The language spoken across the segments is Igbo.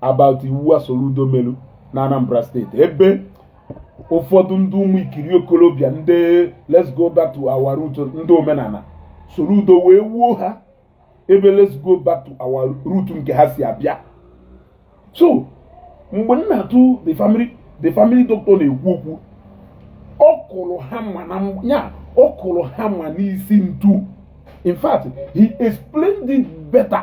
about iwu a Soludo melu na Anambra State ebe ụfọdụ ndị ụmụ ikiri okolobịa ndị let's go back to our root ndị omenala Soludo wee wuo ha ebe let's go back to our root nke ha si abịa so mgbe Nnatu the family the family doctor na-ekwu okwu ọ kụrụ hammer na ya ọ kụrụ hammer n'isi ntu in fact he explained it better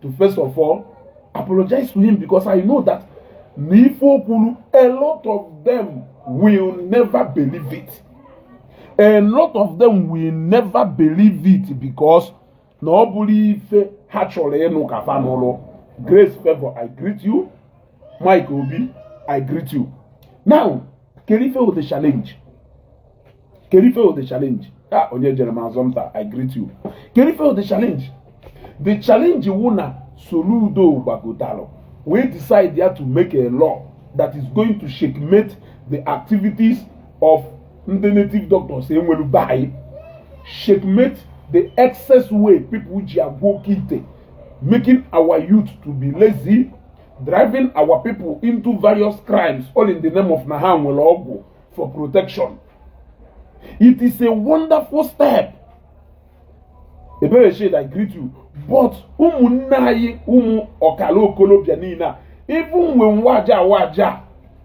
to first of all apologize to him because I know that na ife o kwuru a lot of them will never believe it a lot of them will never believe it because na ọ bụrọ ife ha chọrọ ịnụ ka fa nụrụ Grace Favour i greet you Mike Obi i greet you now kere ife wụ the challenge kere ife wụ the challenge a ah, Onyejerem Azomta i greet you kere ife wụ the challenge the challenge wụ na Soludo gbagotalụ wee decide ya to make a law that is going to checkmate the activities of ndị native doctors e nwere be anyị checkmate the excess way people ji agwọ oke ite making our youth to be lazy driving our people into various crimes all in the name of na ha nwere ọgwụ for protection. It is a wonderful step. Ebere shade, I greet you. But ụmụnne anyị ụmụ ọkala okolobịa niile a even when waja waja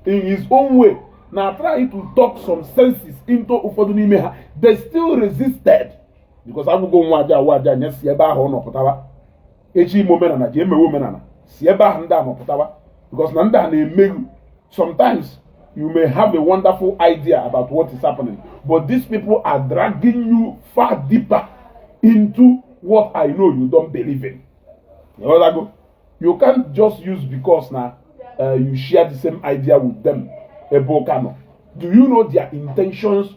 in his own way na try to talk some senses into ụfọdụ n'ime ha they still resisted because agwago m waja waja ya si ebe ahụ ọ nọ pụtara eji ime omenala ji emewe omenala si ebe ahụ ndị a mapụtawa because na ndị a na-emeghu sometimes you may have a wonderful idea about what is happening but these people are dragging you far deeper into what I know you don't believe in. You know that You can't just use because now uh, you share the same idea with them. Ebokano. Do you know their intentions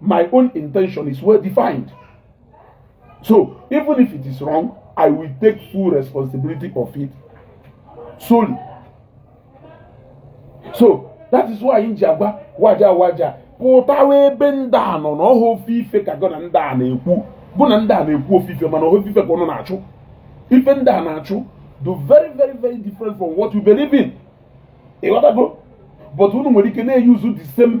my own intention is well defined. So even if it is wrong, I will take full responsibility of it solely. So that is why nji agwa waja waja pụtawa ebe ndị a nọ na ọ họ ofu ife ka gụ na ndị a na-ekwu gụ na ndị a na-ekwu ofu ife mana ọ họ ofu ife ka ụnụ na-achụ ife ndị a na-achụ dụ very very very different from what you believe in ịghọtago but unu nwere ike na-eyuzu the same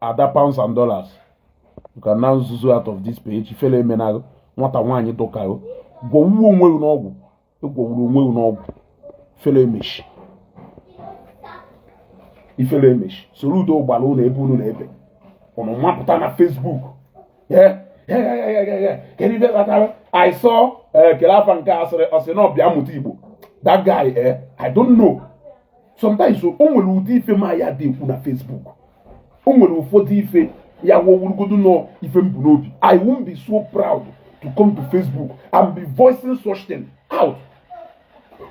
ada pounds and dollars can now zuzu out of this page ifele emenalụ nwata nwaanyị dụ ka gụ gwọwuo onwe gị n'ọgwụ ị gwọwuru onwe gị n'ọgwụ ifele emechi ifele emechi Soludo gbara ụlọ ebe unu na-ebe ụnụ mapụta na Facebook kedu ife kpatara I saw eh, kele afa nke a sịrị ọ sị na ọ bịa mụta Igbo that guy eh I don't know sometimes o nwere ụdị ife ma ya dị ekwu na Facebook o nwere ụfọdụ ife ya-awụ ọ wụrụgodu na ife m bu n'obi i won't be so proud to come to facebook and be voicing such thing out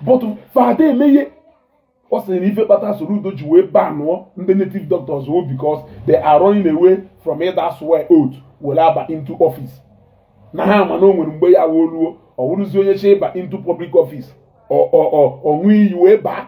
but fada emeghe ọ sịrị na ife kpata Soludo ji wee banụọ ndị native doctors o because they are running away from ịda swear oath were aba into office na ha ma na o nwere mgbe ya wee ruo ọ wụrụzi onye chọ ịba into public office ọ ṅụọ iyi wee baa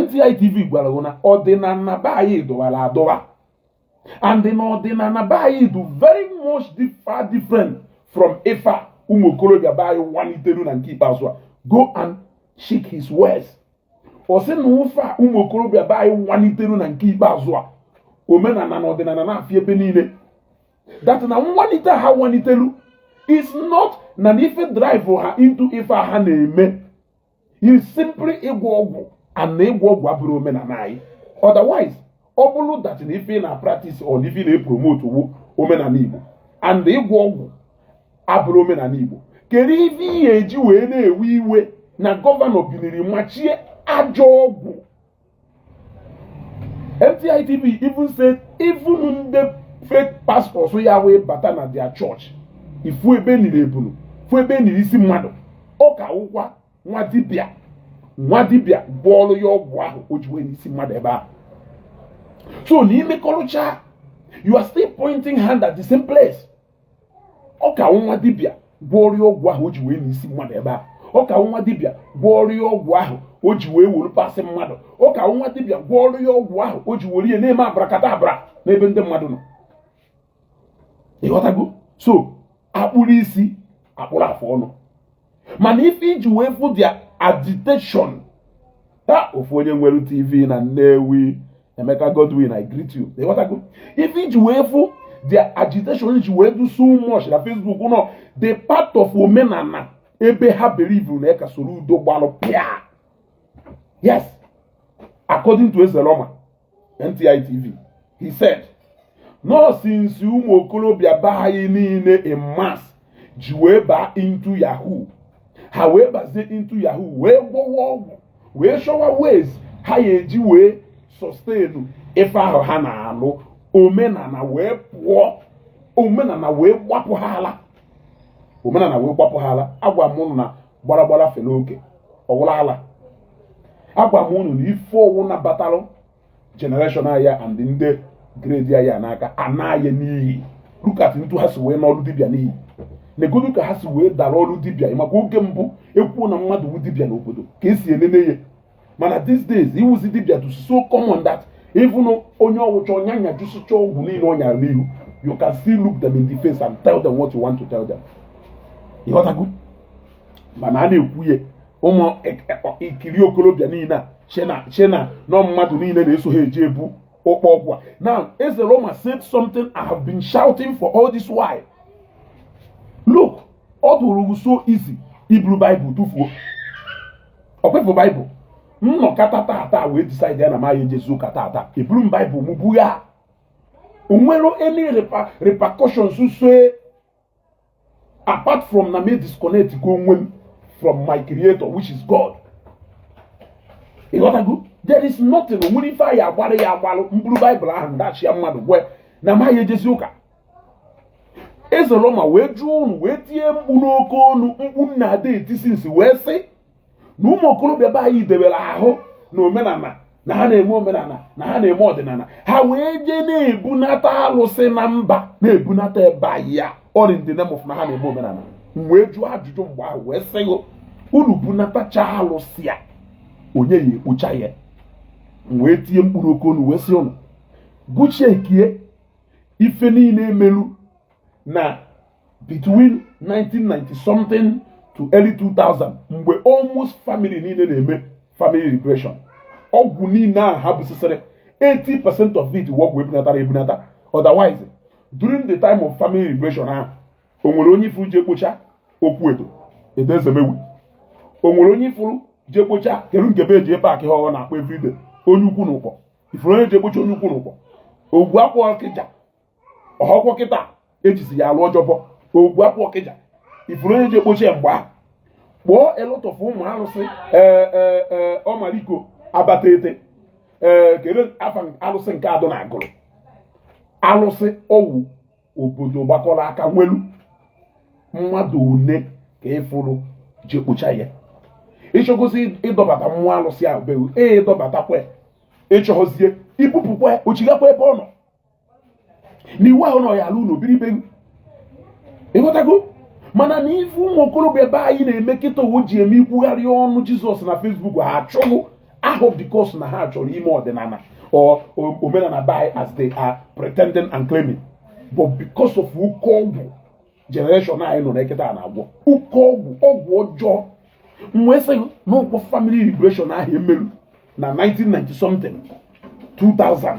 NTI TV gwara gị na ọdịnala be anyị dọwara adọwa and na ọdịnala be anyị dị very much far different from ife a ụmụ okorobịa be anyị walitelu na nke ikpeazụ a go and check his words ọ sị na ụfa ụmụ okorobịa be anyị walitelu na nke ikpeazụ a omenala na ọdịnala na-afị ebe niile that na nwalite ha walitelu is not na ife drive ha into ife ha na-eme is simply ịgwọ ọgwụ and na ịgwọ ọgwụ abụrọ omenala anyị otherwise ọ bụrụ that na ife ị na practice or ife ị na promote wu omenala Igbo and na ịgwọ ọgwụ abụrọ omenala Igbo kedu ife i ji wee na-ewe iwe na gọvanọ biniri machie ajọ ọgwụ NTI TV even said even ndị fake pastors ya wee bata na their church ị fụ ebe e niri ebulu fụ ebe e niri isi mmadụ ọ ka wụkwa nwa dibịa gwọọlụ ya ọgwụ ahụ o ji wee nie isi mmadụ ebe ahụ so na i mekọrụcha you are still pointing hand at the same place ọ ka wụ nwa dibịa gwọọlụ ya ọgwụ ahụ o ji wee nie isi mmadụ ebe a ọ ka wụ nwa dibịa gwọọlụ ya ọgwụ ahụ o ji wee were parts mmadụ ọ ka wụ nwa dibịa gwọọlụ ya ọgwụ ahụ o ji were ya na-eme abrakadabra n'ebe ndị mmadụ nọ ịghọtago so akpụrụ isi akpụrụ afụ ọnụ mana ife i ji wee fụ their agitation ta ofu onye nwere tv na nnewi emeka godwin i greet you ịghọtago ife i ji wee fụ their agitation i ji wee do so much na facebook nọ the part of omenala ebe ha believe na eka Soludo gbalụ pịa yes according to ezeloma NTI TV he said na ọ since ụmụ okorobịa be anyị niile in mass ji wee baa into yahoo ha wee bazie into yahoo wee gwọwa ọgwụ wee chọwa ways ha ya eji wee sustain ife ahụ ha na-alụ omenala wee pụọ omenala wee gbapụ ha ala omenala wee gbapụ ha ala agwa m unu na gbara gbara fere oke ọ wụla ala agwa m unu na ife ọwụna batalụ generation anyị a and ndị grade anyị a n'aka a naa ya n'iyi look at etu ha si wee naa ọrụ dibịa n'iyi negodu ka ha si wee dara ọrụ dibịa maka oge mbụ ekwuo na mmadụ wu dibịa n'obodo ka esi enene ya mana these days ịwụzi dibịa to so common that even onye ọ wụcha ọ nyajusịcha ọgwụ niile ọ nyara n'ihu you can still look them in the face and tell them what you want to tell them ịghọtago mana a na-ekwu ya ụmụ e, e, ikiri okorobịa niile echee na ọ mmadụ niile na-eso ha eje ebu ụkpọ ọgwụ a now eze roma said something i have been shouting for all this while look ọ dụrụ so easy iburu baịbụl tụfuo ọ kwa ịfụ baịbụl m nọkata tata wee decide ya na m aya ejezi ụka tata eburu m baịbụl m bugha o nwere any repercussions so apart from na m e-disconnect go onwe m from my creator which is God ịghọtago there is nothing o nwere ife a ya-agbaru ya agbalụ m buru baịbụl ahụ m dashia mmadụ gwa ya na m aya ejezi ụka Ezoloma wee jụọ unu wee tie mkpu n'oke onu mkpu na-ada etisi nsị wee sị na ụmụ okorobịa be anyị debere ahụ na omenala na ha na-eme omenala na ha na-eme ọdịnala ha wee jee na-ebunata alụsị na mba na-ebunata be anyị a all in the name of na ha na-eme omenala wee jụọ ajụjụ mgbe ahụ wee sị unu bunatacha alụsị a onye ya-ekpocha ya wee tie mkpu n'oke onu wee sị unu gụchie kie ife niile emelu na between 1990 something to early 2000 mgbe almost family niile na-eme family liberation ọgwụ niile a ha busisịrị 80 percent of it ọgwụ e bunatara ebunata otherwise during the time of family liberation ahụ o nwere onye ịfụrụ je kpocha okwu Edo Edo Ezemewi o nwere onye ịfụrụ je kpocha kedu nke be eji ebe akị ha ọ na-akpọ everyday onye ukwu na Ụkpọ ịfụrụ onye je kpocha onye ukwu n'Ụkpọ Ogwu Akpụ Ọkịja ọhọkwọ kịta e jizi ya alụ ọjọbọ Ogwu Akpụ Ọkịja ịfụrụ onye je kpocha ya mgbe ahụ kpọọ a lot of ụmụ arụsị ee ee ee Ọmaliko Abatete ee kedu afa alụsị nke a dụ na Agụlụ alụsị ọ wụ obodo gbakọrọ aka nwelu mmadụ one ka ịfụrụ je kpocha ya ị chọgozi ịdọbata mmụọ alụsị ahụ be wụ ee ị dọbatakwa ị chọzie ibupụkwa ọ chịgakwa ebe ọ nọ na iwu ahụ na ọ ya-alụ ụlọ biri be wụ ịghọtago mana na ife ụmụ okorobịa be anyị na-eme kịta owo ji eme ikwugharị ọnụ jizọs na Facebook ha achọghụ ahụ because na ha chọrọ ime ọdịnala or omenala by as they are pretending and claiming but because of oke ọgwụ generation anyị nọ na ya kịta a na-agwọ oke ọgwụ ọgwụ ọjọọ m wee sị n'okwu family liberation ahụ e merụ na 1990 something 2000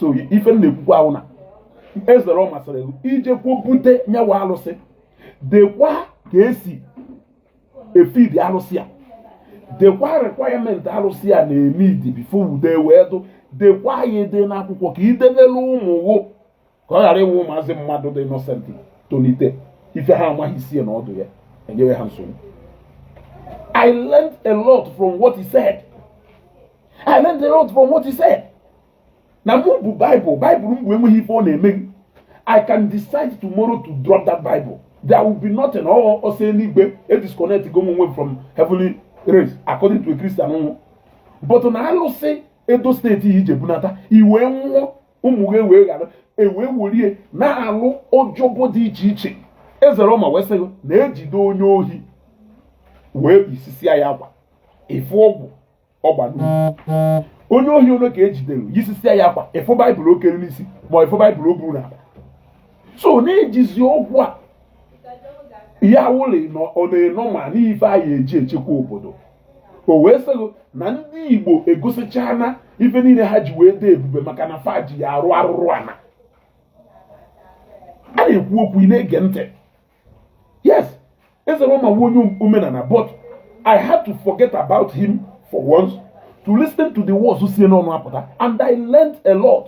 so ife na-ekwukwa awụ na Eze Roma sịrị gị ijekwa bute nya wụ alụsị dekwa ka esi efidi alụsị a dekwa requirement alụsị a na-enidi before udo ewee dụ dekwa ya ede n'akwụkwọ ka idebelu ụmụ wụ ka ọ ghara ịwụ ụmụazị mmadụ dị innocent tolite ife ha amaghị isi na ọdụ ya enyewe ha nsogbu I learned a lot from what he said. I learned a lot from what he said. na mụ bu Bible Bible m bu enweghị ife ọ na-eme m I can decide tomorrow to drop that Bible there will be nothing ọ ọsọ eluigwe e disconnect go onwe from heavenly race according to a Christian m wụ but na alụsị Edo State i je bunata i wee nwụọ ụmụ gị wee ghara ewee were ya na-alụ ọjọbọ dị iche iche Eze Roma wee sị gị na ejide onye ohi wee yisisia ya akwa ịfụ ọgwụ ọ gba n'ukwu onye ohi one ka ejidere yisisia ya akwa ịfụ Bible o kere n'isi ma ịfụ Bible o buru n'akpa so na-ejizi ọgwụ a ya wụlị na ọ na-enọ ma n'ife a ya eji echekwa obodo o wee sị gị na ndị igbo egosichana ife niile ha ji wee dị ebube maka na fa ji ya arụ arụrụ ana a na-ekwu okwu ị na-ege ntị yes Eze Roma wụ onye omenala but i had to forget about him for once to listen to the words si n'ọnụ apụta and i learned a lot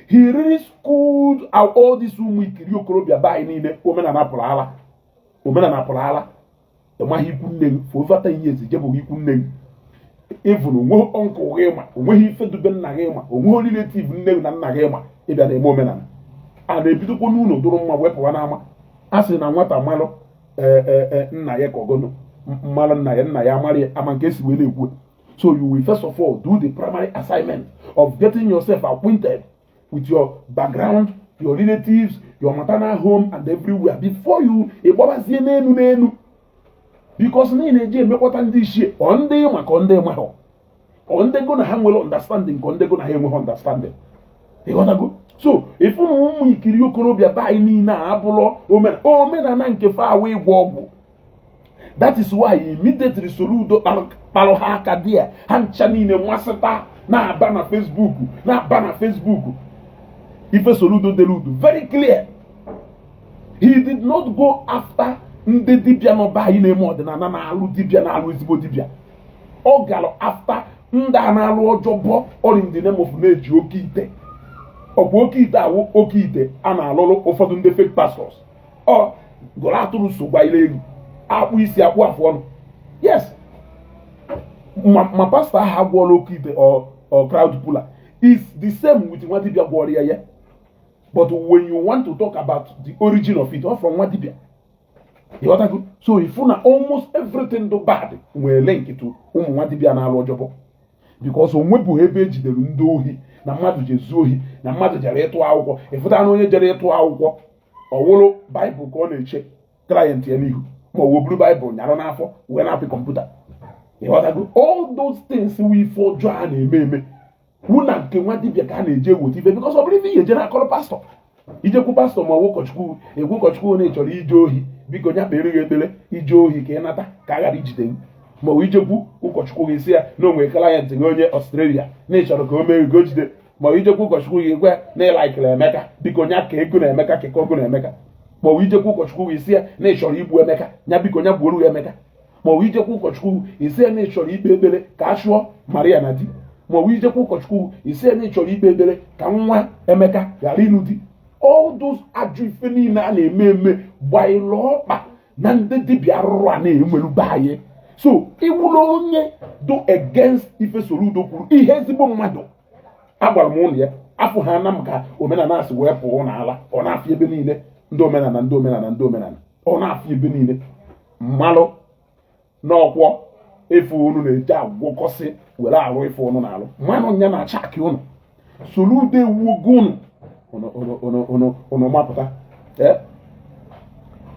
he really schooled out all these ụmụ ikiri okorobịa be anyị niile omenala pụrụ ala omenala pụrụ ala ịmaghị ikwu nne gị for over 10 years ijebụghị ikwu nne gị even onweghị uncle gị ị ma onweghị ife dube nna gị ị ma onweghị relative nne gị na nna gị ị ma ịbịa na-eme omenala a na-ebidokwa n'ụlọ dụrụ mma wee pụwa n'ama a sị na nwata malụ e, e, e, nna ya ka ọgọnụ mmalụ nna ya nna ya amarị ama nke esi wee na-ekwu so you will first of all do the primary assignment of getting yourself acquainted with your background your relatives your maternal home and everywhere before you ịgbabazie n'enu n'enu because na ị na-eji emekwata ndị ichie ọ ndị ịma ka ọ ndị ịmahụ ọ ndị go na ha nwere understanding ka ọ ndị go na ha enweghị understanding ịghọtago so ịfụ na ụmụ ikiri okorobịa be anyị niile a abụrụ omenala nke fa awụ ịgwọ ọgwụ that is why immediately Soludo kparụ ha aka dị ya ha ncha niile masịta na-aba na Facebook na-aba na Facebook ife Soludo dere dụ very clear he did not go after ndị dibịa nọ be anyị na-eme ọdịnala na-alụ dibịa na-alụ ezigbo dibịa ọ gara after ndị a na-alụ ọjọbọ all in the name of na-eji oke ite ọkwa oke ite awụ oke ite a na-alụrụ ụfọdụ ndị fake pastors ọ gụrụ atụrụ so gwa ile elu akpụ isi akpụ afụ ọnụ yes ma pastọ ahụ agwọọla oke ite or crowd puller is the same with nwa dibia gwọrọ ya ya but when you want to talk about the origin of it ọ from nwa dibia ịghọtago so ifu na almost everything dụ bad nwere link to ụmụ nwa dibia na-alụ job because onwebụghị ebe ejidere ndị ohi na mmadụ ji ezu ohi na mmadụ jere ịtụ akwụkwọ ịfụta na onye jere ịtụ akwụkwọ ọ wụrụ bible ka ọ na-eche client ya n'ihu ma ọwụ o buru bible nyarụ n'afọ wee na-apị computer ịghọtago all those things wụ ife ọjọọ a na-eme eme wụ na nke nwa dibịa ka a na-eje eweta ife because ọ bụrọ ife ị ya-eje na-akọrọ pastọ ijekwu pastọ ma ọwụ ụkọchukwu ị gwa ụkọchukwu na ịchọrọ ije ohi biko nya kpere gị ekpere ije ohi ka ị nata ka a ghara ijide gị ma ọ ijekwu ụkọchukwu gị si ya na onwe client gị onye australia na ịchọrọ ka o mee gị o jide ma ọ ijekwu ụkọchukwu gị gwa na ịlaikiri emeka biko nya kee gị na emeka kee gị na emeka ma ọ ijekwu ụkọchukwu gị sie na ịchọrọ igbu emeka nya biko nya gbuoro ya emeka ma ọ ijekwu ụkọchukwu isie na ịchọrọ ikpe ekpere ka a chụọ maria na di ma ọ ijekwu ụkọchukwu isie na ịchọrọ ikpe ekpere ka nwa emeka ghara ịnụ di all those ajọ ife niile a na-eme eme gbaịlụ ọkpa na ndị dibịa arụrụana e nwelu be anyị so ịwụrụ onye dụ against ife Soludo kwuru ihe ezigbo mmadụ agwara m unu ya afụhana m ka omenala si wee pụọ unu ala ọ na-afị ebe niile ndị omenala ndị omenala ndị omenala ọ na-afị ebe niile mmalụ na ọkwa ife unu na-eje agwọkọsị were arụ ife unu na-arụ mmanụ nya na chaki unu Soludo ewuogo unu unu mapụta eh?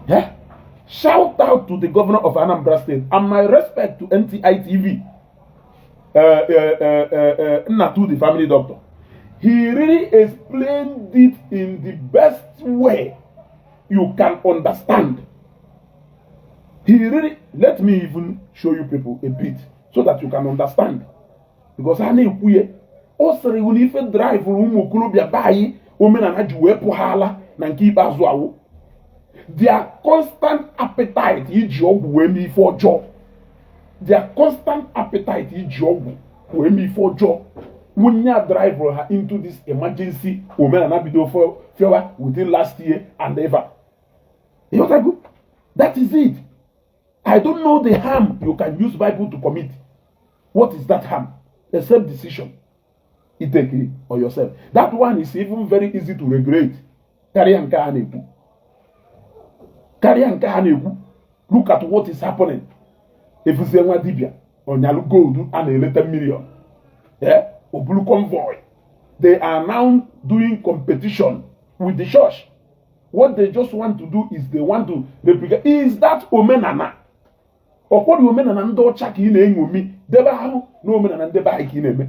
Eh? shout out to the governor of Anambra State and my respect to NTI TV uh, uh, uh, Nnatu the family doctor he really explained it in the best way you can understand He really, let me even show you people a bit so that you can understand. Because ha na-ekwu ya ọ sịrị iwu na ife draịvụrụ ụmụ okorobịa be anyị omenala ji wee pụ ha ala na nke ikpeazụ a wụ their constant appetite iji ọgwụ wee mee ife ọjọọ their constant appetite iji ọgwụ wee mee ife ọjọọ wụ nya drive ha into this emergency omenala bido fewa within last year and ever ịghọtago that is it i don't know the harm you can use bible to commit what is that harm the same decision you take it on yourself that one is even very easy to regulate karịa nke a na-ekwu karịa nke a na-ekwu look at what is happening ịfụzie nwa dibia ọ nyalụ gold a na-ele ten million eh? o buru convoy they are now doing competition with the church what they just want to do is they want to replicate is that omenala ọkwọdụ omenala ndị ọcha ka ị na-eṅomi debe ahụ na omenala ndị be anyị ka ị na-eme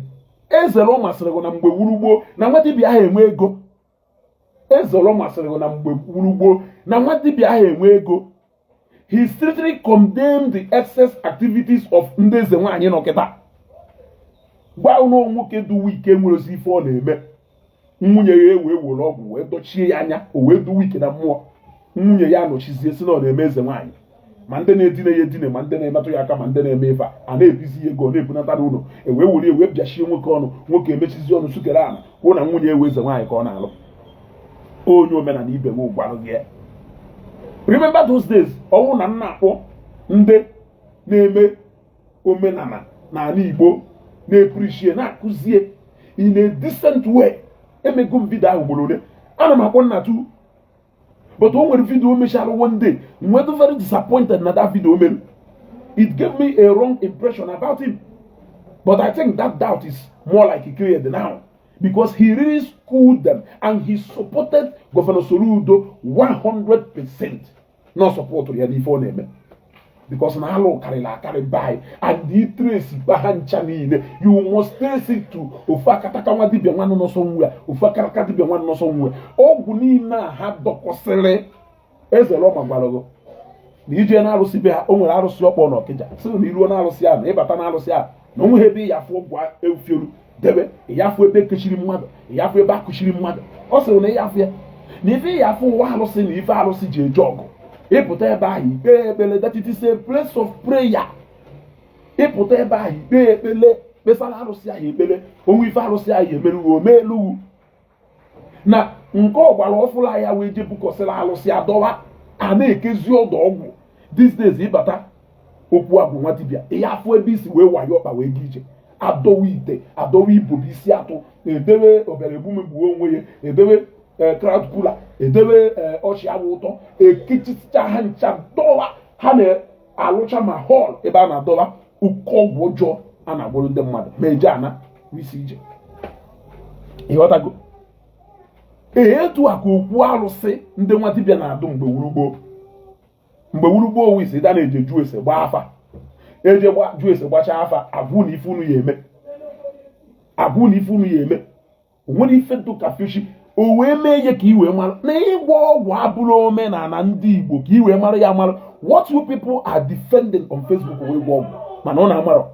eze Roma sịrị gị na mgbe wụrụ gboo na nwa dibịa aha enwe ego eze Roma sịrị gị na mgbe wụrụ gboo na nwa dibịa aha enwe ego he strictly condemned the excess activities of ndị eze nwaanyị nọ kịta gwa ụnụ nwoke dụ weak enwerozi ife ọ na-eme nwunye ya ewee were ọgwụ wee dochie ya anya o wee dụ weak na mmụọ nwunye ya anọchizie sị na ọ na-eme eze nwaanyị ma ndị na-edina ya edina ma ndị na-emetụ ya aka ma ndị na-eme ife a na-ebizi ya ego na-ebunata n'ụlọ ewee were ewee pịachie nwoke ọnụ nwoke emechizi ọnụ sukere ala kwuo na nwunye ya wụ eze nwaanyị ka ọ na-alụ onye omenala ibe m gwara gị ya remember those days ọ wụ na m na-akpọ ndị na-eme omenala n'ala Igbo na-eprichie na-akụzie in a decent way emego m vidio ahụ ugboro ole ana m akpọ nna tu but o nwere vidio o mechara one day m wee dụ very disappointed na that video o mere it gave me a wrong impression about him but I think that doubt is more like cleared now because he really schooled them and he supported Governor Soludo 100% na ọ support ya n'ife ọ na-eme because na alụ karịrị akarị be anyị and ị trace gba ha ncha niile you must trace it to ofu akataka nwa dibia nwa nọ nso nwa ofu akataka dibia nwa nọ nso nwa ọgwụ niile a ha dọkọsịrị eze Roma gwara gị na i je na arụsị be ha o nwere arụsị ọ kpọ na Ọkịja sị na i ruo na arụsị ahụ na ị bata na arụsị ahụ na o nweha ebe ị ya afụ ọgwụ efiolu debe ya afụ ebe ekechiri mmadụ ya afụ ebe akụchiri mmadụ ọ sịrị na ya afụ ya na ife ị ya afụ wụ arụsị na ife arụsị ji eje ọgụ ị pụta ebe ahụ i kpee ekpele that it is a place of prayer ị pụta ebe ahụ i kpee ekpele kpesara arụsị ahụ ekpele o nwee ife arụsị ahụ emeru wọ o meelu wọ na nke ọgbara ọfụlụ a ya wee je bukọsịrị alụsị adọwa a na-ekezi ọdọ ọgwụ these days ị bata okwu agwụ nwa dibịa ị ya afụ ebe isi wee wayo ọkpa wee gị ije adọwa ite adọwa ibobo isi atụ edewe ọbịara egbu m egbuo onwe ya edewe eh, crowd puller edewe eh, ọchị awụ ụtọ ekechisicha ha ncha dọwa ha na alụcha ma hall ebe a na-adọba ụkọ ọgwụ ọjọọ a na-agwọrọ ndị mmadụ ma eje ana wụ isi ije ị ghọtago ee etu a ka okwu arụsị ndị nwa dibịa na-adụ mgbe wụrụ gboo mgbe wụrụ gboo ọ wụ isi da na-eje jụọ ese gbaa afa eje jụọ ese gbachaa afa agwa unu ife unu ya eme agwa unu ife unu ya eme o nwere ife dụka fishy o wee mee ihe ka i wee mara na ịgwọ ọgwụ abụrọ omenala ndị Igbo ka i wee mara ya mara what you people are defending on Facebook wụ ịgwọ ọgwụ mana ụnụ amarọ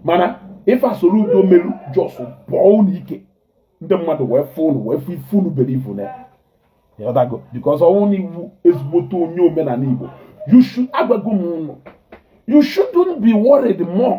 mana ife Soludo meru just bọọ ụnụ ike ndị mmadụ wee fụ ụnụ wee fụ ife ụnụ believe na ịghọtago because ọ wụrụ na ị wụ ezigbote onye omenala Igbo you should agwago m ụnụ you shouldn't be worried more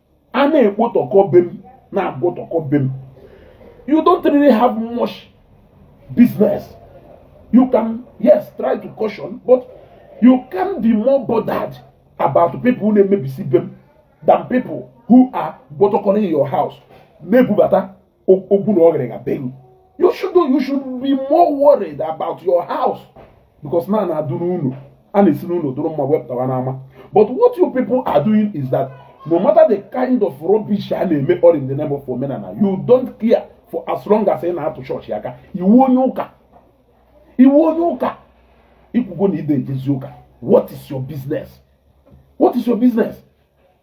a na-ekpotọkọ be m na-agwọtọkọ be m you don't really have much business you can yes try to caution but you can be more bothered about people who na-emebisi be m than people who are gbọtọkọrọ in your house na-ebubata okpuru ọgịrịga be gị you should you should be more worried about your house because na a na-adụ n'ụlọ a na-esi n'ụlọ dụrụ mma wee pụtawa n'ama but what you people are doing is that no matter the kind of rubbish a na-eme all in the name of omenala you don't care for as long as ị na-atụ church aka ị wụ onye ụka ị wụ onye ụka i kwugo na ị dị ejezi ụka what is your business what is your business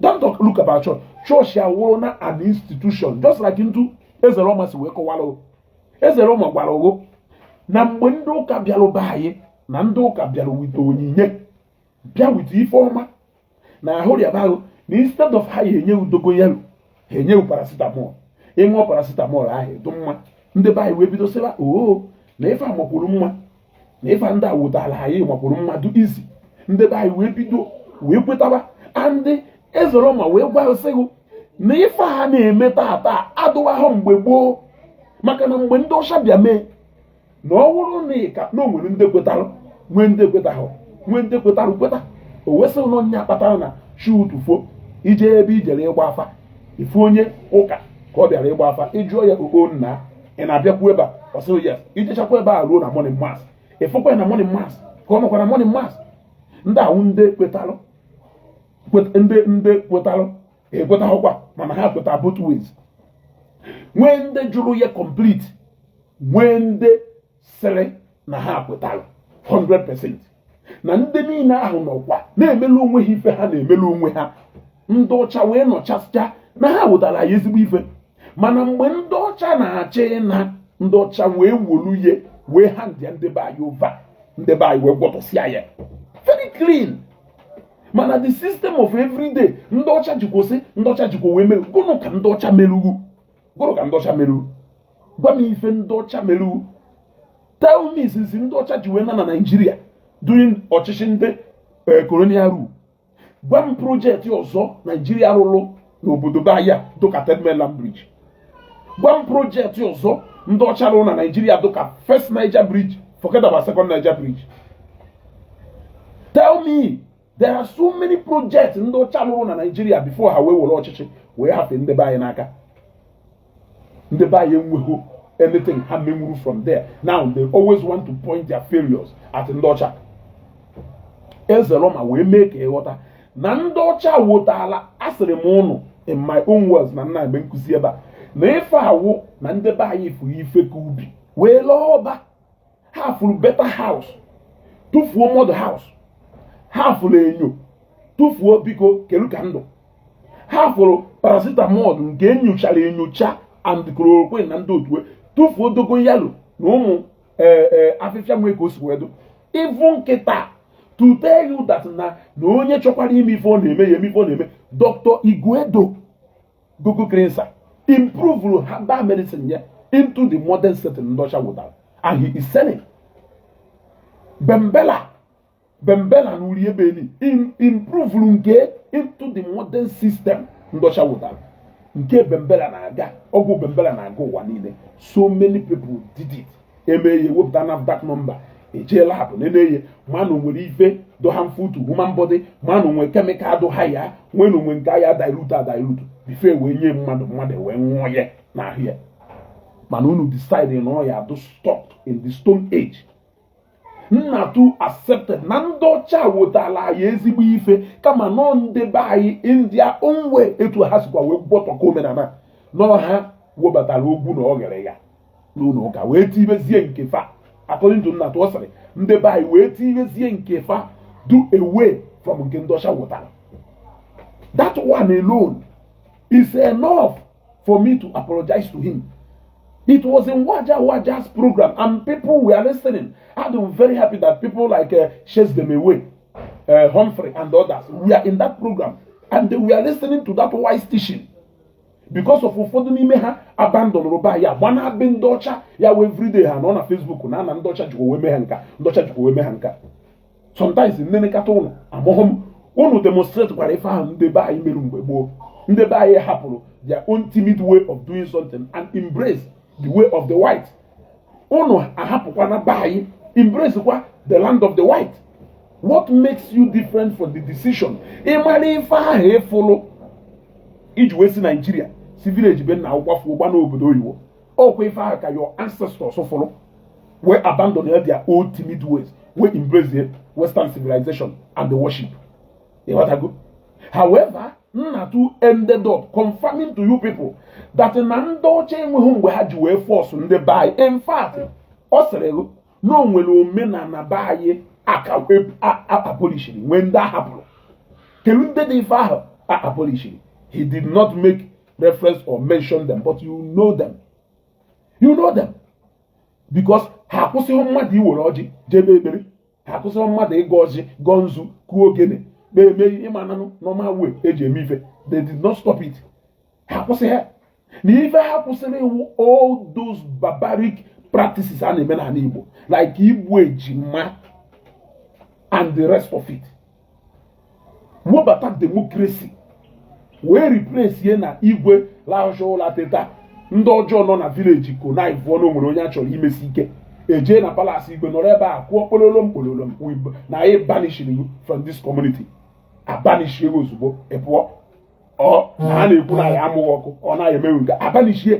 don't talk look about church church ya wụrụ na an institution just like etu Ezerọma si wee kọwara Ezerọma gwara ghụ na mgbe ndị ụka bịara be anyị na ndị ụka bịara wete onyinye bịa wete ife ọma na ahụ rịaba ghụ na instead of ha ya enye ghụ dogoyaro ha enye paracetamol ị ṅụọ paracetamol ahụ ị dụ mma ndị be anyị wee bido sịba oo oh, na ife a makwuru mma na ife ndị a wotara anyị makwuru mma dụ easy ndị be anyị wee bido wee kwetaba and Ezerọma wee gwasị ghụ na ife ha na-eme tata adụwago mgbe gboo maka na mgbe ndị ọcha bịa mee na ọ wụrụ na ịka na o nwere ndị kwetara nwee ndị kwetahụ nwee ndị kwetara kweta o wee sị na ọ ya kpatara na chi ụtụtụ fo i jee ebe i jere ịgba afa ị fụ onye ụka ka ọ bịara ịgba afa ị jụọ ya okpo nna ị na-abịakwu ebe a ọ sịrị ya i jechakwa ebe a ruo na morning mass ị fụkwa na morning mass ka ọ nọkwa na morning mass ndị ahụ ndị kwetalụ ndị ndị kwetalụ ekwetaghịkwa mana ha kweta both ways nwee ndị jụrụ ya complete nwee ndị sịrị na ha kwetara 100% na ndị niile ahụ nọkwa na-emelu onwe ha ife ha na-emelu onwe ha ndị ọcha wee nọchasịcha na ha wotara anyị ezigbo ife mana mgbe ndị ọcha na-achọ ịna ndị ọcha wee wolu ya wee hand ya ndị be anyị over ndị be anyị wee gwọtọsịa ya very clean mana the system of everyday ndị ọcha jikwa sị ndị ọcha jikwa wee mere gụnụ ka ndị ọcha meru ghụ gụnụ ka ndị ọcha meru gwa m ife ndị ọcha meru tell me since ndị ọcha ji wee na na Nigeria during ọchịchị ndị colonial eh, rule gwa m project ọzọ Nigeria rụrụ n'obodo be anyị dịka Third Mainland Bridge gwa m project ọzọ ndị ọcha rụrụ na Nigeria dịka First Niger Bridge forget about Second Niger Bridge tell me there are so many projects ndị ọcha lụrụ na Naịjirịa before ha wee were ọchịchị wee hafe ndị be anyị n'aka ndị be anyị enweghị anything ha menwuru from there now they always want to point their failures at ndị ọcha ezeloma wee mee ka ị ghọta na ndị ọcha wotala asịrị m unu in my own words na nna mgbe nkụzi ebe a na ife a wụ na ndị be anyị fụrụ ife ka ubi wee lee ọba ha fụrụ better house tụfuo mud house ha fụrụ enyo tụfuo biko kedu ka m dụ ha fụrụ paracetamol nke e nyochara enyocha and chloroquine na ndị otu ya tụfuo dogoyaro na ụmụ e, e, afịfịa nwee ka o si wee dụ ịvụ nkịta to tell you that na na onye chọkwara ime ife ọ na-eme ya eme ife ọ na-eme Dr Iguedo Goko Cleanser improvuru herbal medicine ya into the modern setting ndị ọcha wotara and he is selling bembela bembela na uri ebe eli improvuru nke into the modern system ndị ọcha wotara nke bembela na-aga ọgwụ bembela na-aga ụwa niile so many people did it e mee ya wepụta NAFDAC number e jee lab nene ya ma o nwere ife dụ harmful to human body ma o nwere chemical dụ ha ya nwee na onwe nke ya dilute adilute before wee nye mmadụ mmadụ wee nwụọ ya n'ahụ ya mana unu decide na ọ ya dụ stuck in the stone age Nnatu accepted na ndị ọcha wetala anyị ezigbo ife kama na ndị be anyị in their own way etu ha sikwa wee gbọtọkọ omenala na ha webatara ọgwụ na oghere ya n'ụlọ ụka wee tibezie nke fa according to Nnatu ọ sịrị ndị be anyị wee tibezie nke fa do away from nke ndị ọcha wotara that one alone is enough for me to apologize to him It was in Waja Waja's program, and people were listening. I'm very happy that people like uh, Chase Them Away, uh, Humphrey, and others were in that program, and they were listening to that wise teaching. because of ụfọdụ n'ime ha abandonụrụ be anyị gbana be ndị ọcha ya wee everyday ha nọ na Facebook na ana ndị ọcha jikwa wee mee ha nke a ndị ọcha jikwa wee mee ha nke a sometimes m nenekata unu amaghị m unu demonstrate kwara ife ahụ ndị be anyị mere mgbe gboo ndị be anyị hapụrụ their own timid way of doing something and embrace the way of the white unu ahapụkwana be anyị embrace kwa the land of the white what makes you different from the decision ị mara ife ahụ ị fụlụ i ji wee si Nigeria si village be nna gị gbafuo gbaa n'obodo oyibo ọ kwa ife ahụ ka your ancestors fụlụ wee abandon their old timid ways wee embrace western civilization and the worship ịghọtago however nnatu ended up confirming to you people that na ndị ọcha enweghị mgbe ha ji wee fọsụ ndị be anyị in fact ọ sịrị gị na o nwere omenala be anyị aka abolishiri nwee ndị ahapụrụ kelu ndị dị ife ahụ abolishiri he did not make reference or mention them but you know them you know them because ha akwụsịghị mmadụ iwere ọjị jebe ekpere ha akwụsịghị mmadụ ịgọ ọjị gọọ nzu kụọ ogene kpee emee ịmananụ normal way eji eme ife they did not stop it ha akwụsịghị ya na ife ha kwụsịrị wu all those barbaric practices a na-eme n'ala Igbo like igbu ejima and the rest of it webata democracy wee replace ye na igwe lahụcha ụla teta ndị ọjọọ nọ na village connive ọnụ o nwere onye a chọrọ imesi ike ejee na palace igwe nọrọ ebe a kụọ kpololom kpololom na anyị banishiri you from this community abanishie gị ozugbo ị pụọ ọ na a na-ekwu na ya amụghị ọkụ ọ naghị emewe nke abanishie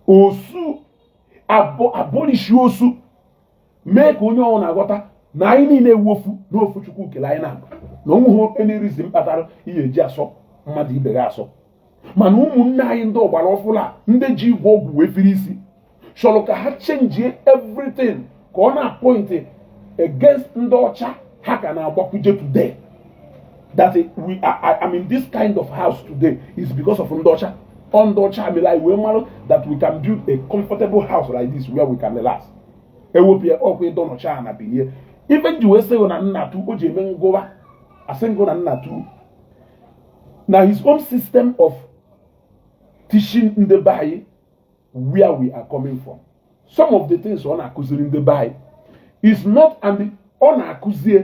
osu abolishi osu mee ka onye ọwụna aghọta na anyị niile wu ofu na ofu chukwu kele anyị na onweghị any reason kpatara ihe eji asọ mmadụ ibe gị asọ mana ụmụnne anyị ndị ọgbara ọfụla ndị ji ịgwọ ọgwụ wee firi isi chọrọ ka ha chenjie everything ka ọ na-apọịntị against ndị ọcha ha ka na-agbakwuje today that I'm in this kind of house today is because of ndị ọcha ọ ndị ọcha mere anyị wee mara that we can build a comfortable house like this where we can relax ewepụ ya ọkwa ịdọ nọcha na binie ife m ji wee sị gụ na nnatu o ji eme ngụwa asị m gụ na nnatu na his own system of teaching ndị be anyị where we are coming from some of the things ọ na-akụziri ndị be anyị is not and ọ na-akụzie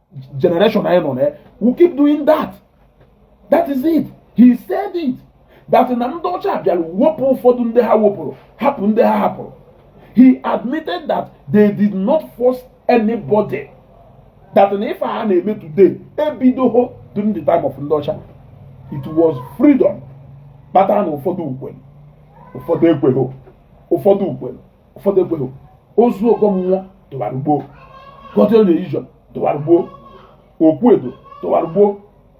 generation anyị nọ na ya will keep doing that that is it he said it that na ndị ọcha bịara wepụ ụfọdụ ndị ha wepụrụ hapụ ndị ha hapụrụ he admitted that they did not force anybody that na ife a na-eme today ebidoho during the time of ndị ọcha it was freedom kpatara na ụfọdụ kwelu ụfọdụ ekweghị ụfọdụ kwelu ụfọdụ ekweghị ozu ọgọ mmụọ dụwara ugbo Godian religion dụwara ugbo okwu edo dụwara ugbo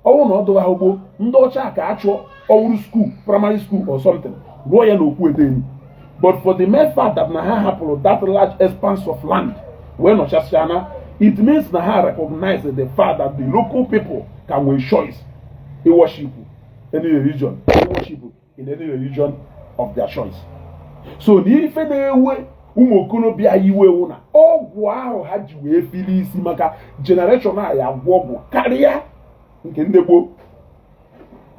ọ wụrụ na ọ dụwa ha ugbo ndị ọcha ka a chụọ ọwụrụ school primary school or something rụọ ya na okwu edo enyi but for the mere fact that na ha hapụrụ that large expanse of land wee nọchasịa na it means na ha recognize the fact that the local people ka nwere choice iwọshipụ any religion iwọshipụ in any religion of their choice so na ife na-ewe ụmụ okorobịa iwe wụ na ọgwụ ahụ ha ji wee fili isi maka generation a ya agwọ ọgwụ karịa nke ndị gboo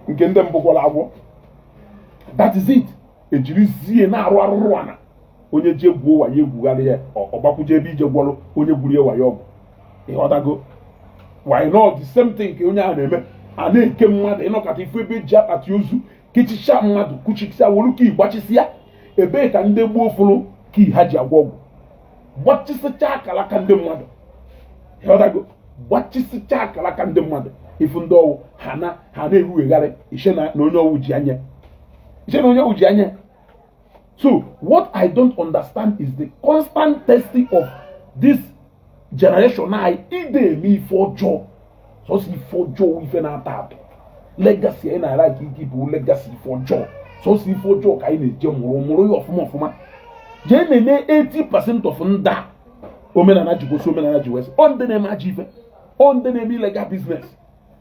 nke ndị mbụ gwọrọ agwọ that is it e jirizie na-arụ arụrụ ana onye je gwuo wayo e gwugharịa ya ọ gbakwuje ebe ije gwọrọ onye gwuru ya wayo ọgwụ ị ghọtago why not the same thing ka onye ahụ na-eme a na-eke mmadụ ị nọkata ị fụ ebe e ji akpati ozu kechichaa mmadụ kuchisia wolu ka gbachisịa ebee ka ndị gboo fụrụ ka ha ji agwọ ọgwụ gbachisịchaa akara aka ndị mmadụ ị ghọtago gbachisịchaa akara aka ndị mmadụ ị fụ ndị ọ wụ ha na ha na-erughegharị i chee na onye ọ wụ ji anya i chee na onye ọ wụ ji anya So what I don't understand is the constant testing of this generation anyị ide eme ife ọjọọ sọsọ ife ọjọọ ife na-ata atọ legacy anyị na-ara ka ike bụ legacy ife ọjọọ sọsọ ife ọjọọ ka anyị na-eje mụrụ mụrụ ya ọfụma ọfụma jee nenee 80% of ndị omenala ji gosi omenala ji wesị ọ ndị na-eme ajọ ife ọ ndị na-eme illegal business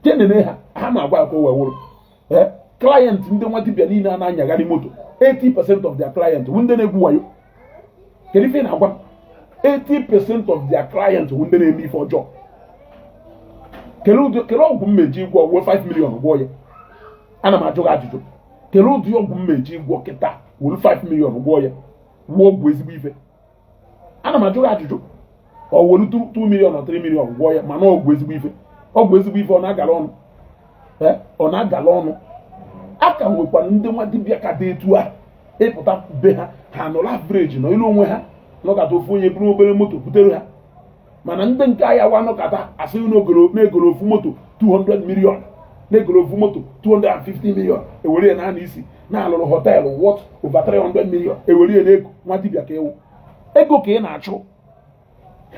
jee nenee ha ha na-agwa akwa wee wụrụ eh, client ndị nwa dibia niile a na-anyagharị moto 80% of their client bụ ndị na-egwu wayo kedu ife na-agwa 80% of their client bụ ndị na-eme ife ọjọọ kele ọgwụ m eje ịgwọ wuru 5 million gwọ ya ana m ajụ gị ajụjụ kele ụdị ọgwụ m eje ịgwọ kịta wuru 5 million gwọ ya gwọọ ọgwụ ezigbo ife ana m ajụ gị ajụjụ ọ wolu 2 million or 3 million gwọọ ya mana ọgwụ ezigbo ife ọgwụ ezigbo ife ọ na-agala ọnụ ọ na-agala ọnụ a ka nwekwara ndị nwa dibịa ka dị etu a ị pụta be ha ha nọrọ average nọlụ onwe ha nọkata ofu onye buru nwa obere moto butere ha mana ndị nke ahịa wa nọkata a sị na e goro ofu moto 200 million na e goro ofu moto 250 million ewere ya naanị isi na a lụrụ hotel worth over 300 million ewere ya n'ego nwa dibịa ka ị wụ ego ka ị na-achụ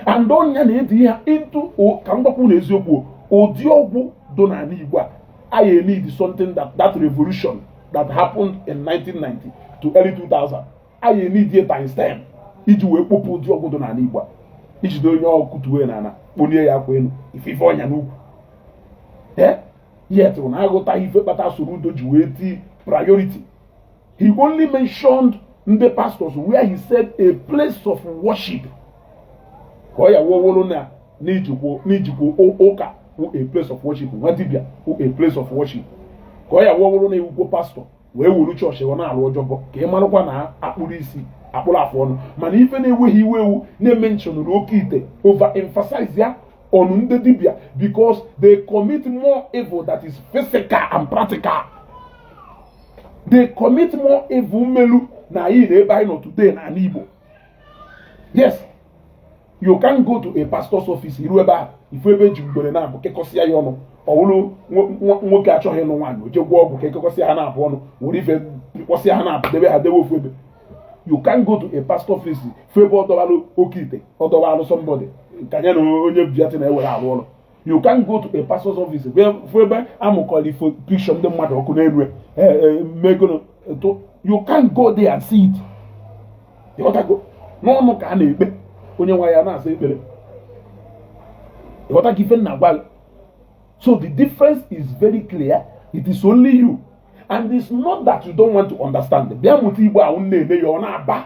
and ọ nya na-edi ya into ka mgbakwu na eziokwu ụdị ọgwụ do n'ala Igbo a anyị need something that that revolution that happened in 1990 to early 2000 anyị eneed ya times ten iji wee kpopụ ụdị ọgwụ dị n'ala Igbo i jide onye ọ wụ kụtuwe na ala kpolie ya akwa elu ị fụ ife ọ nya n'ukwu yet unu aghọtaghị ife kpata Soludo ji wee tii priority he only mentioned ndị pastors where he said a place of worship ka ọ ya wowolo na i jikwa ụka wụ a place of worship nwa dibia wụ a place of worship ka ọ ya wowolo na ị wụkwọ pastor wee wuru chọọchị ọ na-alụ job ka ị marakwa na akpụrụ isi akpụrụ afọ ọnụ mana ife na-ewe ghị iwe wụ na e mentionụrụ oke ite over emphasize ya on ndị dibịa because they commit more evil that is physical and practical they commit more evil melu na anyị nọ ebe anyị nọ today na ala Igbo yes you can go to a pastor's office i ru ebe ahụ ị fụ ebe e ji ngwere naabọ kekọsịa ya ọnụ ọ bụrụ nwoke achọghị ịlụ nwaanyị o je gwọọ ọgwụ ka e kekọsịa ha naabọ ọnụ were ife kpọsịa ha naabọ debe ha debe ofu ebe you can go to a pastor's office fụ ebe ọ dọwara oke ite ọ dọwara somebody ka ya na onye biati na-ewere arụ ọrụ you can go to a pastor's office fụ ebe a mụkọrọ ifo picture ndị mmadụ ọkụ n'elu e, e, megono altar you can go there and see it ịghọtago n'ọnụ ka a na-ekpe onye nwa ya na-asa ekpere ịghọtago ife m na-agwa so the difference is very clear it is only you and it's not that you don't want to understand bịa mụta igbo ahụ na-eme ya ọ na-aba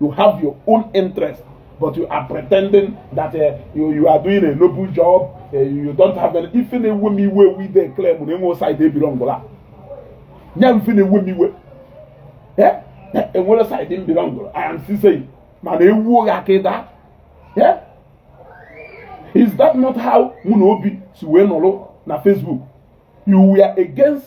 you have your own interest but you are pretending that uh, you, you are doing a noble job uh, you don't have any ife na-ewe m iwe wụ ị de claim na e nwe side ị belongụla nya ife na-ewe m iwe eh? Eh, e nwere side ị belongụla I am still saying mana ewu oghe aka ịda eh? is that not how mụ na Obi si wee nọrọ na Facebook you were against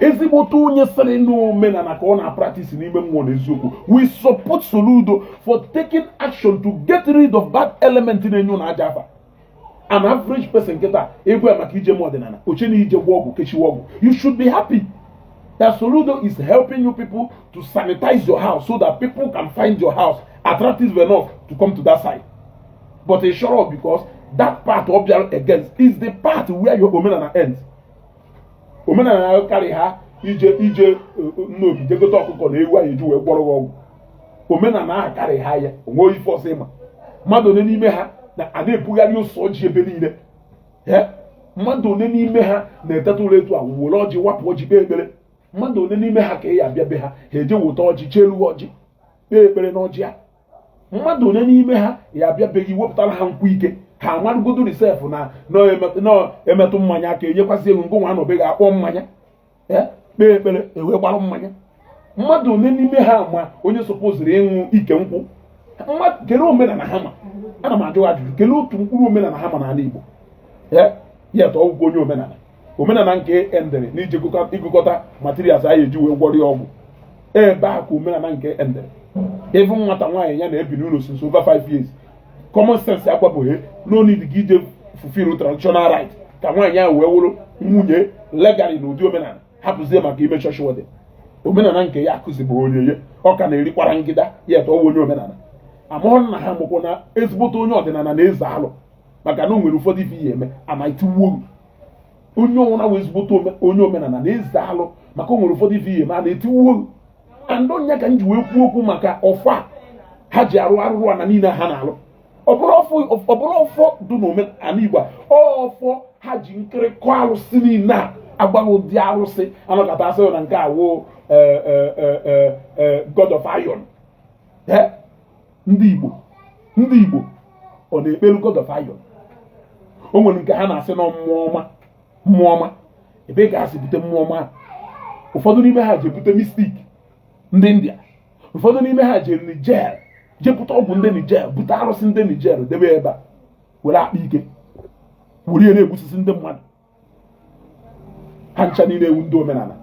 ezigbote onye sịrị n'omenala ka ọ na-apractise n'ime mmụọ na eziokwu we support Soludo for taking action to get rid of that element na-enye ụnụ ajọ afa an average person kịta ị gwa ya maka ije me ọdịnala o che na ije gwọ ọgwụ kechiwa ọgwụ you should be happy that Soludo is helping you people to sanitize your house so that people can find your house attractive enough to come to that side but e sure because that part ọ bịara against is the part where your omenala ends omenala akarịha ije ije eh, eh, Nnobi je gote ọkụkọ na ewu anyị ji wee gwọrọ ọgwụ omenala ahụ akarịha ya o nwe ife ọzọ ị ma mmadụ one n'ime ha na a na-ebugharị ose ọjị ebe niile eh, mmadụ one n'ime ha na-eteta ụla etu a were ọjị wapụ ọjị kpee ekpere mmadụ one n'ime ha ka ị ya abịa be ha ha eje weta ọjị cheelu ọjị kpee ekpere n'ọjị a mmadụ one n'ime ha ya abịa be ghị i wepụtara ha nkwụ ike ha amarụgodori sef na a na-emetụ mmanya aka e nyekwasị ego ngị nwa anọ be ghị akpọ mmanya e, kpee ekpere e wee gbara mmanya mmadụ one n'ime ha ma onye supposiri ịṅụ ike nkwụ kelee omenala ha ma ana m ajụ ajụjụ kelee otu mkpụrụ omenala ha ma n'ala Igbo e, yet ọ wụkwọ onye omenala omenala nke endere na ije ịgụkọta materials a ya-eji wee gwọrọ ya ọgwụ ebe a ka omenala nke endere ịfụ nwata nwaanyị ya na-ebi n'ụlọ since over five years common sense agwabeghị na ọ need gị ije fulfill traditional rite ka nwaanyị ahụ wee wụrụ nwunye legally na ụdị omenala hapụzie maka ime church wedding omenala nke ya akụzibụ onye ya ọ ka na-eri kwarangida ya eto onye omenala amụrụ na ha mụkwụ na ezigbote onye ọdịnala na-eze alụ maka na o nwere ụfọdụ ife ị ya-eme ana etiwuo onye ọwụna wụ ezigbote onye omenala na-eze alụ maka o nwere ụfọdụ ife ị ya-eme ana etiwuo and ọ ya ka m ji wee kwuo okwu maka ọfọ ha ji arụ arụrụana niile ha na-alụ ọ bụrọ ọfọ dị n'omenala Igbo ọfọ ha ji nkịrịkọ alụsị niile a agbaghị ụdị alụsị a nọkata a sị na nke a wụ eh, eh, eh, god of iron ndị Igbo ndị Igbo ọ na-ekpelu God of Iron o nwere nke ha na-asị na mmụọ ọma mmụọ ọma ebee ka ha si bute mmụọ ọma ụfọdụ n'ime ha je bute mystic ndị India ụfọdụ n'ime ha jere Niger je bute ọgwụ ndị Niger bute arụsị ndị Niger debe ebe a were akpa ike were ihe na-egbusisi ndị mmadụ ha ncha niile ewu ndị omenala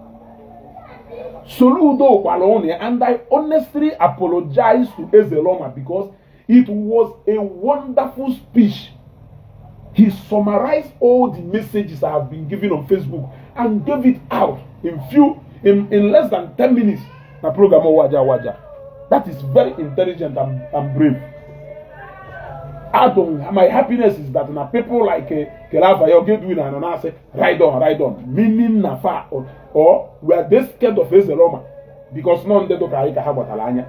Soludo gwara ụnụ ya and I honestly apologize to Ezeloma because it was a wonderful speech he summarized all the messages I have been giving on Facebook and gave it out in few in, in less than ten minutes na program waja waja that is very intelligent and, and brave. I don't, my happiness is that na people like uh, kele afa ya oge duwi na anọ na-asị ride on ride on meaning na fa or were they scared of ezeloma because na ọ ndị dụka anyị ka ha gbatara anya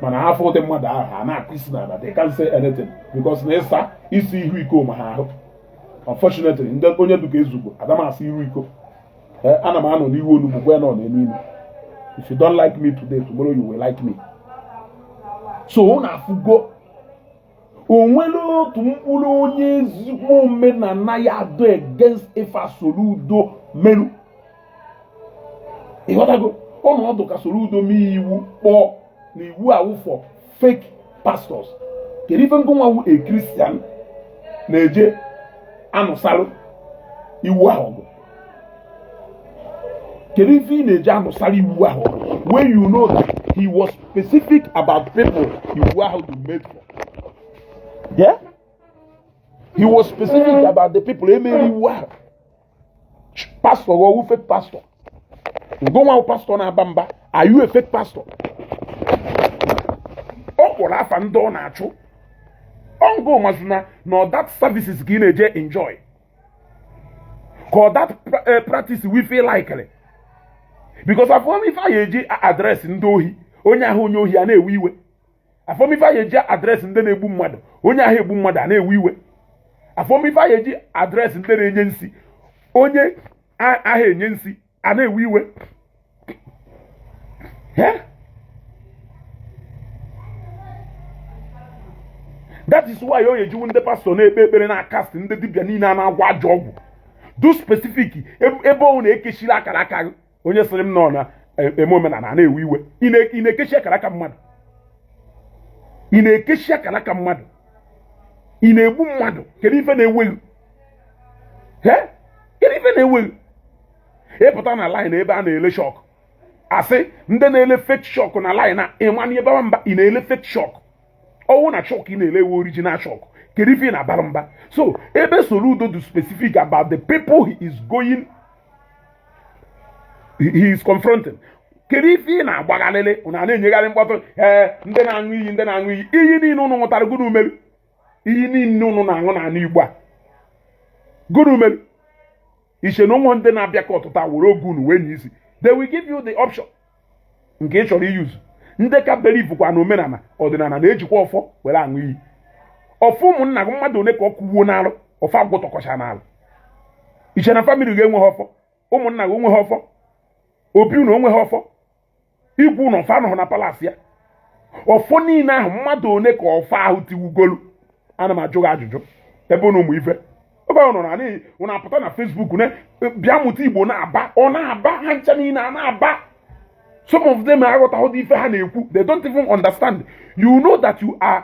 mana ha afụ ụdị mmadụ ahụ ha na-akụ isi ana that they can't say anything because na ịsa isi ihu iko ma ha ahụ unfortunately ndị onye dụka ezugbo adamasị ihu iko eh, ana m anọ n'ihu onugbu gwa nọ n'elu ime if you don't like me today tomorrow you will like me so unu afụgo o nwere otu mkpụrụ onye ezigbo omenala ya-adụ against ife Soludo meru ịghọtago ọnọdụ ka Soludo mee iwu kpọọ na iwu a wụ for fake pastors kedu ife ngụnwa wụ a Christian na-eje anụsalụ iwu ahụ kedu ife ị na-eje anụsara iwu ahụ when you know that he was specific about people iwu ahụ dị made for yeah he was specific about the people e mere iwu ahụ pastor wụ fake pastor ngụnwa pastor na-aba mba are you a fake pastor ọ kpọrọ afa ndị ọ na-achụ ọ ngụ mazụ na na that services ka ị na-eje enjoy ka that eh, practice we feel likely because a form ife a ya-eji address ndị ohi onye ahụ onye ohi a na-ewe iwe a form ife a ya-eji address ndị na-egbu mmadụ onye aha egbu mmadụ a na-ewe iwe a form ife a ya-eji address ndị na-enye nsi onye aha enye nsi a na-ewe iwe that is why onye jiwu ndị pastor na-ekpe ekpere na-acast ndị dibịa niile a na-agwọ ajọ ọgwụ dọ specific ebe ọ na-ekechiri akara aka gị onye sịrị m nọ na e, eme omenala a na-ewe iwe ị na-ekechi akara aka mmadụ ị na-ekechi akara aka mmadụ ị na-egbu mmadụ kedu ife na-ewe gị kedu ife na-ewe gị ị pụta na line ebe a na-ele shock a sị ndị na-ele fake shock na line a ịmanye ebe mba ị na-ele fake shock ọ wụ na shock ị na-ele ewe original shock kedu ife ị na-abara mba so ebe soludo dị specific about the people he is going he is confronting kedu ife ị na-agbagharịrị na na-enyegharị mkpọtụ ee ndị na-aṅụ iyi ndị na-aṅụ iyi iyi niile ụnụ ṅụtara gụnụ o melu iyi niile ụnụ na-aṅụ n'anị igbo a gụnụ mere iche na ụmụ ndị na-abịa ka ọtụta were oge unu wee nye isi they will give you the option nke ị chọrọ i-use ndị ka believekwa na omenala ọdịnala na-ejikwa ọfọ were aṅụ iyi ọfọ ụmụnna gị mmadụ one ka ọ kụwuo n'alụ ọfọ agwụ tọkọcha n'alụ i che na family gị enweghị ọfọ ụmụnna gị onweghị ọfọ obi unu onweghị ọfọ igwe unu ọfọ anọghị na palace ya ọfọ niile ahụ mmadụ one ka ọfọ ahụ tiwugolu ana m ajụ gị ajụjụ ebe ụnụ ụmụ ife ebe ọ nọ na n'ihi ụnụ apụta na facebook na bịa mụta igbo na-aba ọ na-aba ha ncha niile a na-aba some of them aghọtaghị ife ha na-ekwu they don't even understand you know that you are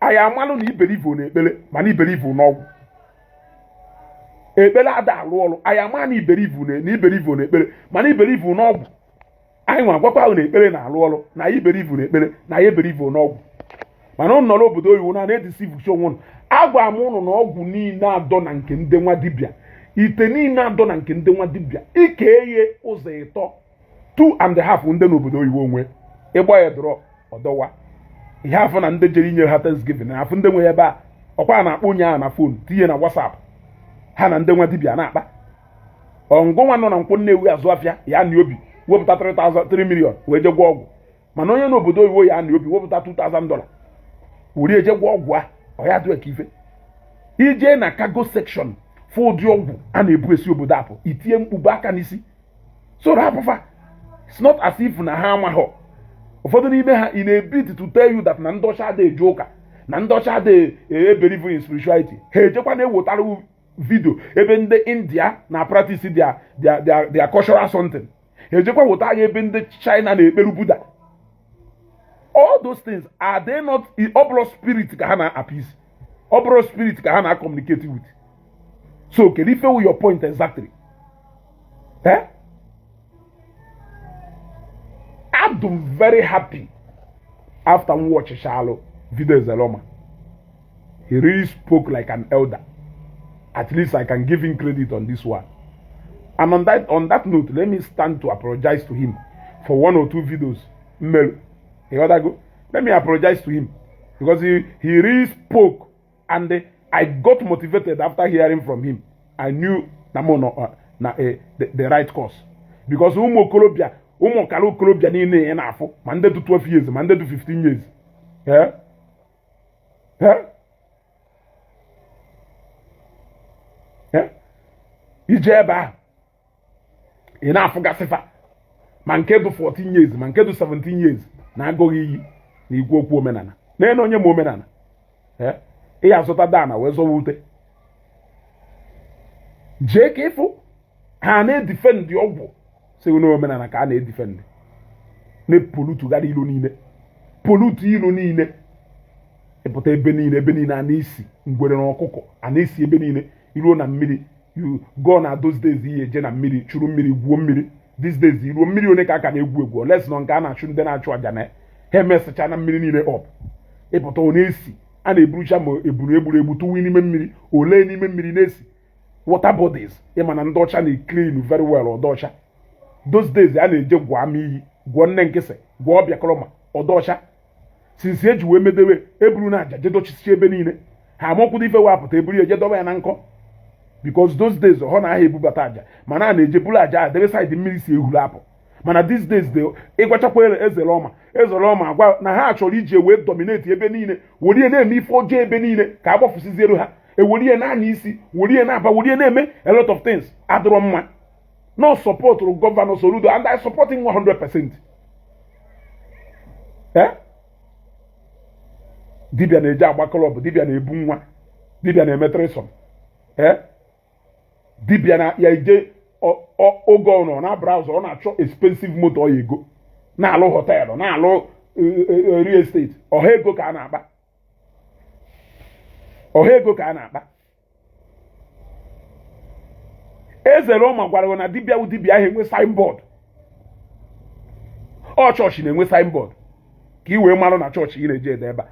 anyị amalụ na i believe na ekpele mana i believe n'ọgwụ ekpele ada alụ ọrụ anyị ama na i believe na i believe na ekpele mana i believe n'ọgwụ anyị nwa gwakwa ha na ekpele na-alụ ọrụ na anyị believe na ekpele na anyị believe n'ọgwụ mana ụnụ nọrọ obodo oyibo na na-edeceivecha onwe ụnụ agwa m ụnụ na ọgwụ niile adọ na nke ndị nwa dibịa ite niile adọ na nke ndị nwa dibịa i kee ya ụzọ ịtọ two and a half ndị nọ obodo oyibo nwe ịgba ya drọp ọdọwa ihe afọ na ndị jere inyere ha thanksgiving na afọ ndị nwe ebe a ọkwa a na-akpọ onye ahụ na phone tinye na whatsapp ha na ndị nwa dibịa na-akpa onye nwa nọ na nkwọ nnewi azụ afịa ya na obi wepụta 3 million wee je gwọ ọgwụ mana onye n'obodo oyibo ya na obi wepụta 2000 dollar were je gwọ ọgwụ a ọ ya dịwa ka ife i je na cargo section fụ ụdị ọgwụ a na-ebu esi obodo apụ i tie mkpu be aka n'isi so rapụ fa it's not as if na ha amaghọ ụfọdụ n'ime ha in a bid to tell you that na ndị ọcha adịghị eje ụka na ndị ọcha adịghị ebelieve in spirituality ha ejekwa na-ewetara video ebe ndị india na practice their their their cultural something ha ejekwa wetara ebe ndị china na-ekperu buddha all those things are they not ọ bụrọ spirit ka ha na-appease ọ bụrọ spirit ka ha na-communicate with so kedu ife wu your point exactly eh? I'm very happy after m watchịchalụ video Ezeloma he really spoke like an elder at least i can give him credit on this one and on that on that note let me stand to apologize to him for one or two videos mmerụ you got go let me apologize to him because he he really spoke and uh, i got motivated after hearing from him i knew na mo no uh, na uh, the, the right course because ụmụ okorobịa ụmụ ọkara okorobịa niile ị na-afụ ma ndị dị 12 years ma ndị dị 15 years ee eh? ị jee ebe ahụ ị na-afụgasị fa ma nke dị 14 years ma nke dị 17 years na-agụghị iyi na ikwu okwu omenala nene onye ma omenala ị ya-azọtadị ana wee zọwa ute jee ka ị fụ ha na-edifendị ọgwụ sị na omenala ka a na-edifendị na-epolutugharị ilo niile polutu ilo niile ị pụta ebe niile ebe niile a na-esi ngwere na ọkụkọ a na-esi ebe niile i ruo na mmiri you go na those days ị ya-eje na mmiri churu mmiri gwuo mmiri these days i ruo mmiri onye ka aka na-egwu egwu unless na ọ nke a na-achụ ndị na-achụ aja na ha emesịcha na mmiri niile ọp ị pụta ọ na-esi a na-eburucha ma ebulu egburu egbu tụwa n'ime mmiri o lee n'ime mmiri na-esi water bodies ị ma na ndị ọcha na-eclean very well ọ dị ọcha those days a na-eje gwuo ama iyi gwuo nne Nkisi gwuo ọbịa kọrọma ọ dị ọcha since e ji wee medewe eburu na aja jedochisie ebe niile ha amakwụdo ife wee apụta eburu ya ejedoba ya na nkọ because those days ọ na aha ebubata aja mana a na-eje buru aja a debe side mmiri si ehuru apụ mana these days de ị gwachakwa Ezeloma Ezeloma agwa na ha chọrọ iji wee dominate ebe niile were na-eme ife ọjọọ ebe niile ka a gbafusiziere ha e were ya na-ana isi were ya na-aba were ya na-eme a lot of things adịrọ mma na ọ supportụrụ Governor Soludo and I support him 100 percent eh? dibia na-eje agba club dibia na-ebu nwa dibia na-eme threesome eh? dibia na ya ije oge ọ nọ na browser ọ na-achọ expensive motor ọ ya ego na-alụ hotel na-alụ eh, eh, real estate ọha ego ka a na-akpa ọha ego ka a na-akpa Ezeloma gwara na dibịa wụ dibịa aha enwe signboard ọ chọọchị na-enwe signboard ka ị wee marụ na chọọchị ị na-eje dị ebe a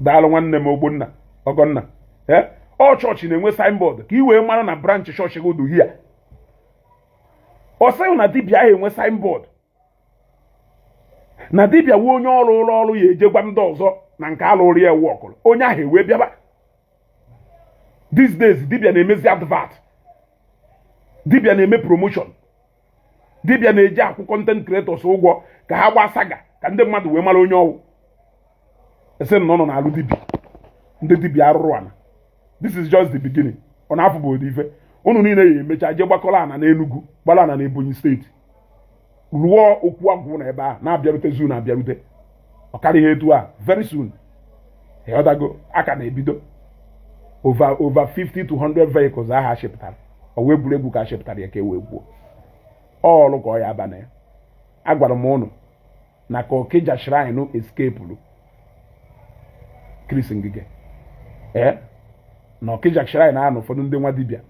daalụ nwanne m Ogbonna Ọgọnna ee ọ chọọchị na-enwe signboard ka ị wee mara na branch chọọchị gị dị here ọ sị gị na dibịa aha enwe signboard na dibịa wụ onye ọ rụụlụ ọrụ ya eje gwa ndị ọzọ na nke a lụụrụ ya workụrụ onye ahụ ewee bịaba these days dibịa na-emezi advert dibịa na-eme promotion dibịa na-eje akwụ content creators ụgwọ ka ha gbaa saga ka ndị mmadụ wee mara onye ọ wụ a sị na unu na-alụ dibia ndị dibia arụrụ ana this is just the beginning ọ na-afụ bụ ụdị ife unu niile ya emecha jee gbakọrọ ana n'Enugu gbara ana na Ebonyi state rụọ okwu agwụ na ebe a na-abịarute unu na-abịarute ọ karịghị etu a very soon ịghọtago a ka na-ebido over over 50 to 100 vehicles ahụ a chịpụtara ọ wụ egwuregwu ka a chịpụtara ya ka e wee gwuo ọrụ ka ọ ya aba na ya agwara m unu na ka Okija shrine escapuru Chris Ngige ee eh? na Okija shrine ahụ na ụfọdụ ndị nwa dibịa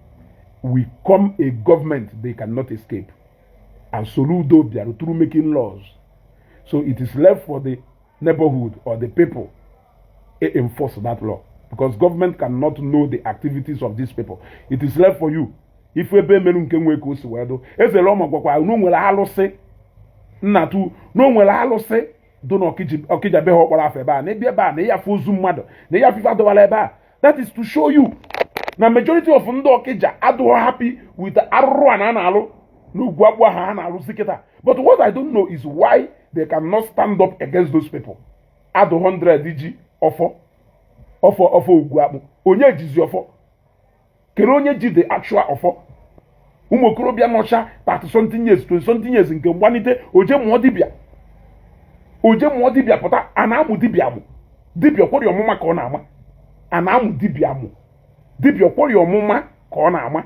will come a government they cannot escape and Soludo bịara through making laws so it is left for the neighborhood or the people to enforce that law because government cannot know the activities of these people it is left for you ị fụ ebe e mere nke nwee ka o si wee dụ eze Roma gwakwa na o nwere alụsị nnatu na o nwere alụsị dụ na Okija be ha a kpọrọ afa ebe a na ebe a na ị ya-afụ ozu mmadụ na ị ya-afụ ife a dọwara ebe a that is to show you na majority of ndị Okija adụghọ happy with arụrụ a na a na-alụ n'Ogwugwu Akpụ ha ha na-alụzi kịta but what i don't know is why they cannot stand up against those people ha dụ 100 ji ọfọ ọfọ Ogwugwu Akpụ onye jizi ọfọ kedu onye ji the actual ọfọ ụmụ okorobịa nọcha 30 something years 20 something years nke gbanite o jee mụọ dibịa o jee mụọ dibịa pụta a na-amụ dibịa amụ dibịa kwọrịa ọmụma ka ọ na-ama a na-amụ dibịa amụ dibịa kwọrịa ọmụma ka ọ na-ama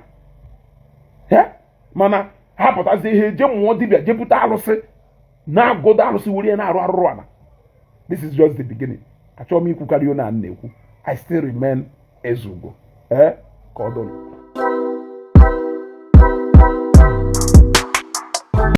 mana ha pụtazie ha jee mụọ dibịa jee buta arụsị na-agụda arụsị were na-arụ arụrụ ana this is just the beginning achọghị m ikwukarị onye a na-ekwu i still remain Ezeugo ee eh? ka ọ dụrụ